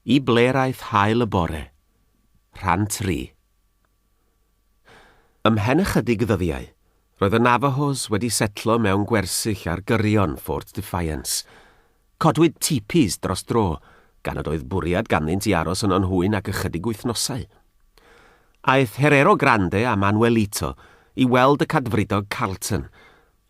Y ble'raeth hael y bore. Rhan tri. Ymhen ychydig ddyddiau, roedd y Navajos wedi setlo mewn gwersyll ar gyrion Fort Defiance. Codwyd tipis dros dro, gan nad oedd bwriad ganddynt i aros yno yn hwy nag ychydig wythnosau. Aeth Herero Grande a Manuelito i weld y Cadfridog Carleton,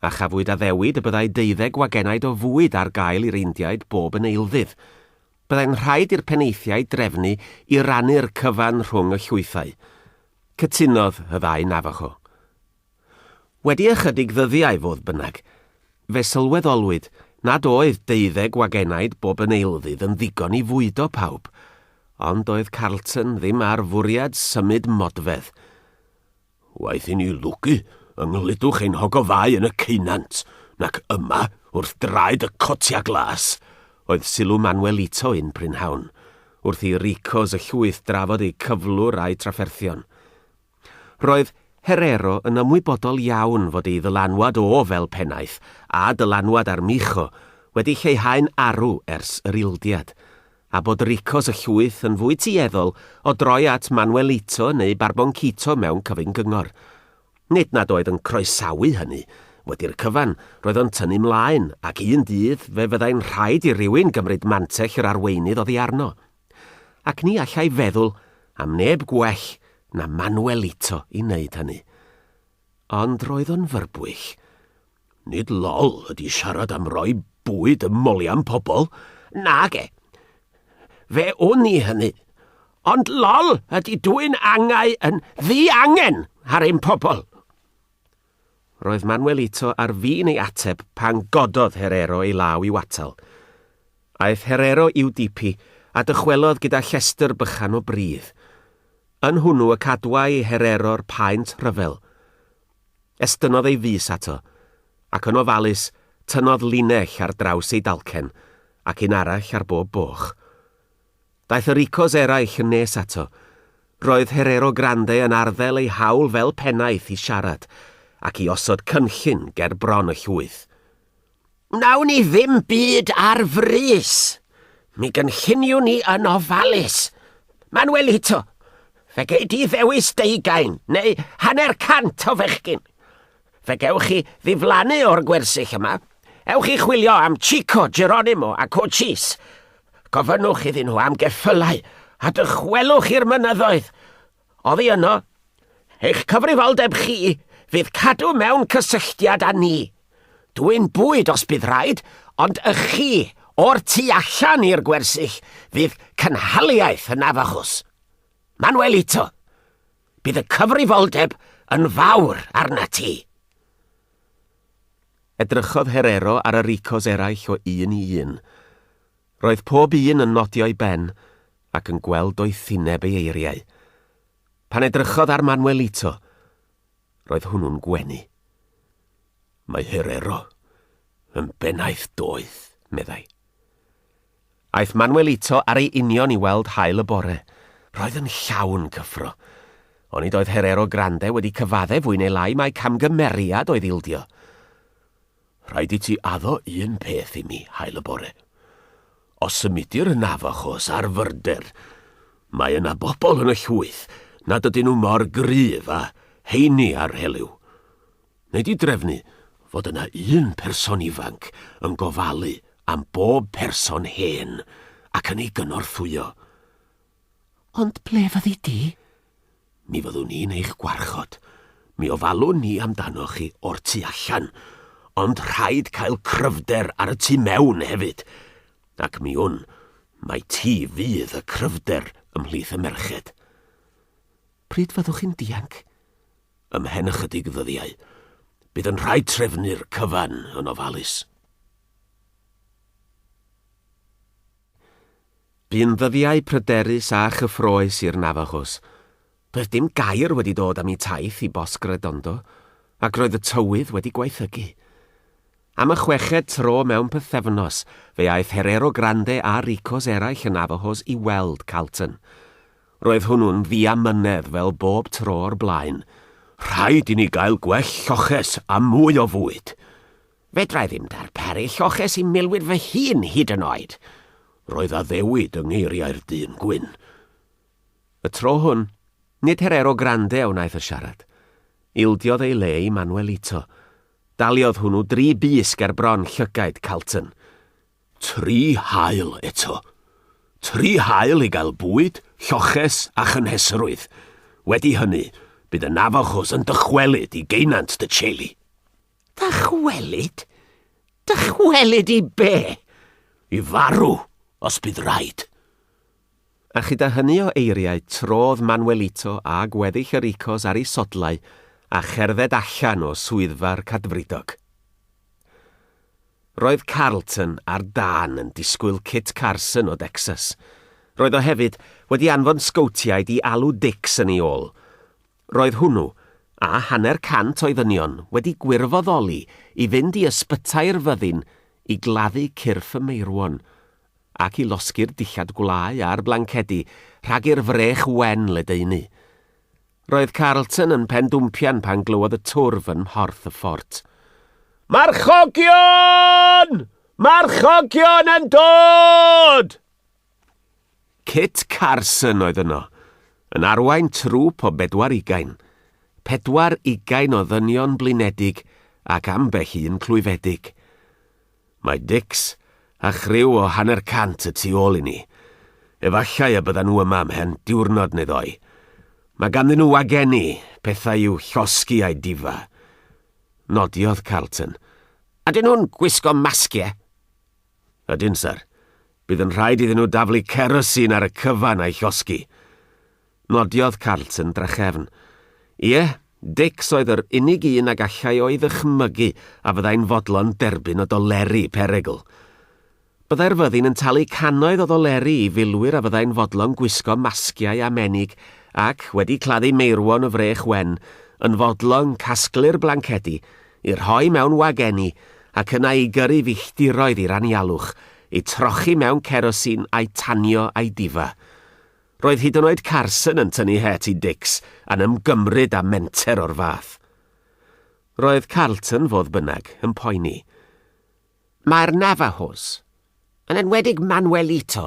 A chafwyd addewid y byddai deuddeg wagenaid o fwyd ar gael i'r Indiaid bob yn eilddydd. Byddai'n rhaid i'r penaethiaid drefnu i rannu'r cyfan rhwng y llwythau. Cytunodd y ddau Navajo. Wedi ychydig ddyddiau, fodd bynnag, fe sylweddolwyd nad oedd deuddeg wagenaid bob yn eilddydd yn ddigon i fwydo pawb, ond doedd Carleton ddim â'r fwriad symud modfedd. Waeth i ni lwgu yng nghludwch ein hogofau yn y ceunant, nac yma, wrth draed y cotia glas, oedd sylw Manuelito un prynhawn, wrth i Ricos y llwyth drafod eu cyflwr a'u trafferthion. Roedd Herrero yn ymwybodol iawn fod ei ddylanwad o fel pennaeth, a dylanwad Armijo, wedi lleihau'n arw ers yr ildiad. a bod Ricos y Llwyth yn fwy tueddol o droi at Manuelito neu Barboncito mewn cyfyng gyngor. Nid nad oedd yn croesawu hynny. Wedi'r cyfan, roedd o'n tynnu 'mlaen, ac un dydd fe fyddai'n rhaid i rywun gymryd mantell yr arweinydd oddi arno. Ac ni allai feddwl am neb gwell na Manuelito i wneud hynny. Ond roedd o'n fyrbwyll. Nid lol ydy siarad am roi bwyd ym molian pobl. Nage. Fe wn i hynny. Ond lol ydy dwy'n angau yn ddi angen ar ein pobl. Roedd Manuelito ar fin ei ateb pan gododd Herrero ei law i'w atal. Aeth Herrero i'w dipi a dychwelodd gyda llestr bychan o bridd. Yn hwnnw y cadwai i Herrero'r paent rhyfel. Estynnodd ei fys ato, ac yn ofalus tynnodd linell ar draws ei dalcen, ac un arall ar bob boch. Daeth y ricos eraill yn nes ato. Roedd Herero Grande yn arddel ei hawl fel pennaeth i siarad, ac i osod cynllun ger bron y llwyth. Wnawn ni ddim byd ar frys. Mi gynlluniwn ni yn ofalus. Manuelito, fe gei di ddewis deugain neu hanner cant o fechgyn. Fe gewch chi ddiflannu o'r gwersyll yma. Ewch i chwilio am Chico, Geronimo a Cochise. Gofynnwch iddyn nhw am geffylau a dychwelwch i'r mynyddoedd. Oddi yno, eich cyfrifoldeb chi fydd cadw mewn cysylltiad â ni. Dwi'n bwyd os bydd rhaid, ond y chi o'r tu allan i'r gwersyll fydd cynhaliaeth yn afachus. Manuelito, bydd y cyfrifoldeb yn fawr arna ti. Edrychodd Herero ar y Ricos eraill o un i un. Roedd pob un yn nodio'i ben ac yn gweld doethineb ei eiriau. Pan edrychodd ar Manuelito, roedd hwnnw'n gwenu. Mae Herrero yn bennaeth doeth, meddai. Aeth Manuelito ar ei union i weld haul y bore. Roedd yn llawn cyffro. Onid oedd Herrero Grande wedi cyfaddef fwy neu lai mai camgymeriad oedd ildio? Rhaid i ti addo un peth i mi, hael y bore. Os symudir y Navajos ar fyrder, mae yna bobl yn y llwyth nad ydyn nhw mor gryf a heini ar heliw. Neu di drefnu fod yna un person ifanc yn gofalu am bob person hen ac yn ei gynorthwyo. Ond ble fyddi di? Mi fyddwn ni'n eich gwarchod. Mi ofalwn ni amdanoch chi o'r tu allan, ond rhaid cael cryfder ar y tu mewn hefyd. Ac mi wn, mai ti fydd y cryfder ymhlith y merched. Pryd fyddwch chi'n dianc? Ymhen ychydig ddyddiau. Bydd yn rhaid trefnu'r cyfan yn ofalus. Bu'n ddyddiau pryderus a chyffrous i'r Navajos. Doedd dim gair wedi dod am eu taith i Bosque Redondo, ac roedd y tywydd wedi gwaethygu. Am y chweched tro mewn pythefnos, fe aeth Herero Grande a Ricos eraill y Navajos i weld Calton. Roedd hwnnw'n ddiamynedd fel bob tro o'r blaen. Rhaid i ni gael gwell lloches a mwy o fwyd! Fedrai ddim darparu lloches i milwyr fy hun hyd yn oed! Roedd addewid yng ngeiriau'r dyn gwyn. Y tro hwn, nid Herero Grande a wnaeth y siarad. Ildiodd ei le i Manuelito. Daliodd hwnnw dri bys ger bron llygaid Calton. Tri hael eto. Tri hael i gael bwyd, lloches a chynhesrwydd. Wedi hynny, bydd y Navajos yn dychwelyd i geunant dy Cheli. Dychwelyd? Dychwelyd i be? I farw, os bydd raid. A chyda hynny o eiriau, trodd Manuelito â gweddill yr Icos ar ei sodlau a cherdded allan o swyddfa'r Cadfridog. Roedd Carlton ar dân yn disgwyl Kit Carson o Decsas. Roedd o hefyd wedi anfon sgowtiaid i alw Dicks yn ei ôl. Roedd hwnnw, a hanner cant o'i ddynion, wedi gwirfoddoli i fynd i ysbytai'r fyddin i gladdu cyrff y meirwon, ac i losgi'r dillad gwlâu a'r blancedi rhag i'r frech wen ledaenu. Roedd Carlton yn pendwmpian pan glywodd y twrf yn mhorth y ffort. Marchogion! Marchogion yn dod! Kit Carson oedd yno, yn arwain trŵp o bedwar ugain. Pedwar ugain o ddynion blinedig ac ambell un clwyfedig. Mae Dicks a chriw o hanner cant y tu ôl i ni. Efallai y byddan nhw yma ymhen diwrnod neu ddoi. Mae ganddyn nhw wagenni, pethau i'w llosgi a'u difa. Nodiodd Carlton. Ydyn nhw'n gwisgo masgiau? Ydyn, syr. Bydd yn rhaid iddyn nhw daflu cerosin ar y cyfan a'i llosgi. Nodiodd Carlton drachefn. Ie, Dicks oedd yr unig un a gallai o'i ddychmygu a fyddai'n fodlon derbyn o doleri perygl. Byddai'r fyddin yn talu cannoedd o ddoleri i filwyr a fyddai'n fodlon gwisgo masgiau a menig ac, wedi claddu meirwon y frech wen, yn fodlon casglu'r blancedi I rhoi mewn wagenni, ac yna i gyrru filltiroedd i'r anialwch, eu trochi mewn cerosin a'u tanio a'u difa. Roedd hyd yn oed Carson yn tynnu het i Dicks a'n ymgymryd â menter o'r fath. Roedd Carlton, fodd bynnag, yn poeni. Mae'r Navajos, yn enwedig Manuelito,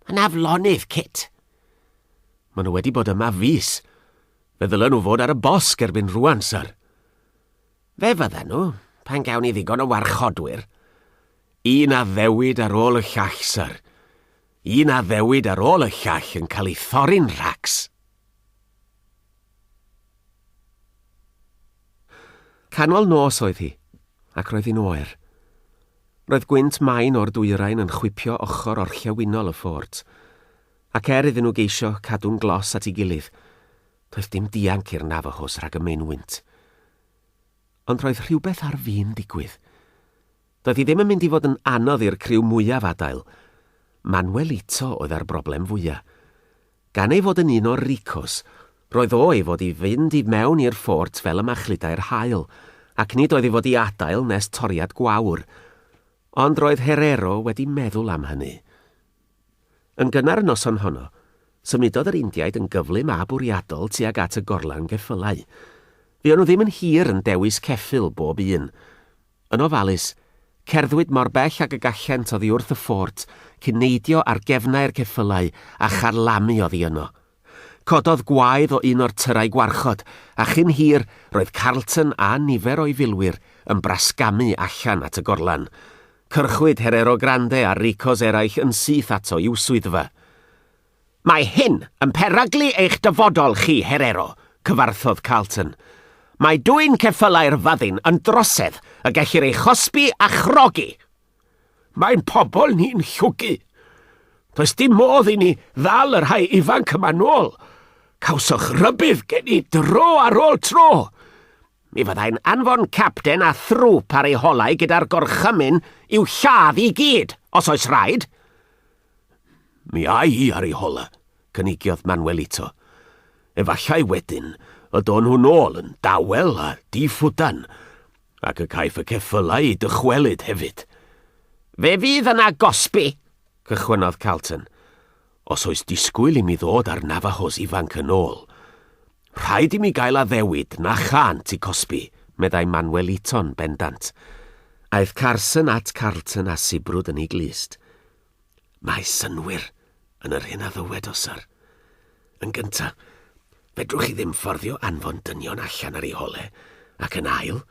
yn aflonydd cit. Maen nhw wedi bod yma fus. Fe ddylen nhw fod ar y bosg erbyn rwan, syr. Fe fydden nhw, pan gawn ni ddigon o warchodwyr. Un addewid ar ôl y llall, syr. Un addewid ar ôl y llall yn cael ei thorri'n rhacs. Canol nos oedd hi, ac roedd hi'n oer. Roedd gwynt main o'r dwyrain yn chwipio ochr orllewinol y ffort, ac er iddyn nhw geisio cadw'n glos at ei gilydd, doedd dim dianc i'r Navajos rhag y maenwynt. Ond roedd rhywbeth ar fin digwydd. Doedd hi ddim yn mynd i fod yn anodd i'r criw mwyaf adael. Manuelito oedd â'r broblem fwya'. Gan ei fod yn un o'r ricos, roedd o i fod i fynd i mewn i'r ffort fel y machludai'r haul, ac nid oedd i fod i adael nes toriad gwawr. Ond roedd Herrero wedi meddwl am hynny. Yn gynnar y noson honno, symudodd yr Indiaid yn gyflym a bwriadol tuag at y gorlan geffylau. Fuon nhw ddim yn hir yn dewis ceffyl bob un. Yn ofalus, cerddwyd mor bell ag y gallent oddi wrth y ffort cyn neidio ar gefnau'r ceffylau a charlamu oddi yno. Cododd gwaedd o un o'r tyrau gwarchod, a chyn hir roedd Carleton a nifer o'i filwyr yn brasgamu allan at y gorlan. Cyrchwyd Herero Grande a Ricos eraill yn syth ato i'w swyddfa. Mae hyn yn peryglu eich dyfodol chi, Herero, cyfarthodd Carlton. Mae dwyn ceffylau'r fyddin yn drosedd y gellir ei chosbi a chrogi! Mae'n pobl ni'n llwgu. Does dim modd i ni ddal y rhai ifanc yma nôl. Cawsoch rybudd gen i dro ar ôl tro. Mi fyddai'n anfon capten a thrwp ar ei holau gyda'r gorchymyn i'w lladd i gyd, os oes rhaid. Mi ai hi ar ei hola, cynigiodd Manuelito. Efallai wedyn y do'n nhw'n ôl yn dawel a di-ffwdan, ac y caiff y ceffylau eu dychwelyd hefyd. Fe fydd yna gosbi, cychwynnodd Carlton. Os oes disgwyl i mi ddod â'r Navajos ifanc yn ôl, Rhaid i mi gael addewid na chânt i cosbi, meddai Manweliton bendant. Aeth Carson at Carlton a sibrwd yn ei glust. Mae synnwyr yn yr hyn a ddywed o, syr. Yn gyntaf, fedrwch chi ddim fforddio anfon dynion allan ar eu hole, ac yn ail,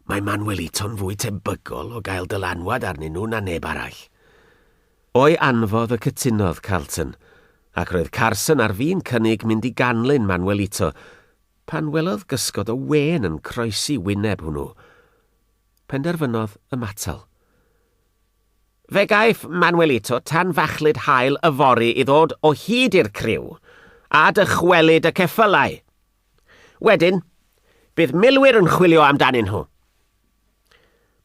mae Manweliton fwy tebygol o gael dylanwad arnyn nhw na neb arall. O'i anfodd y cytunodd Carlton, ac roedd Carson ar fin cynnig mynd i ganlyn Manuelito pan welodd gysgod o wên yn croesi wyneb hwnnw. Penderfynodd ymatal. Fe gaiff Manuelito tanfachlud haul yfory i ddod o hyd i'r criw, a dychwelyd y ceffylau. Wedyn, bydd milwyr yn chwilio amdanyn nhw.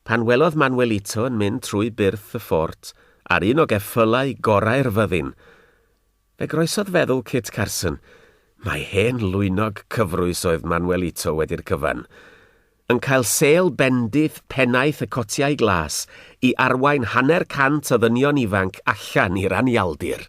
Pan welodd Manuelito yn mynd trwy byrth y ffort ar un o geffylau gorau'r fyddin, fe groesodd feddwl Kit Carson mai hen lwynog cyfrwys oedd Manuelito wedi'r cyfan, yn cael sêl bendith pennaeth y cotiau glas i arwain hanner cant o ddynion ifanc allan i'r anialdir.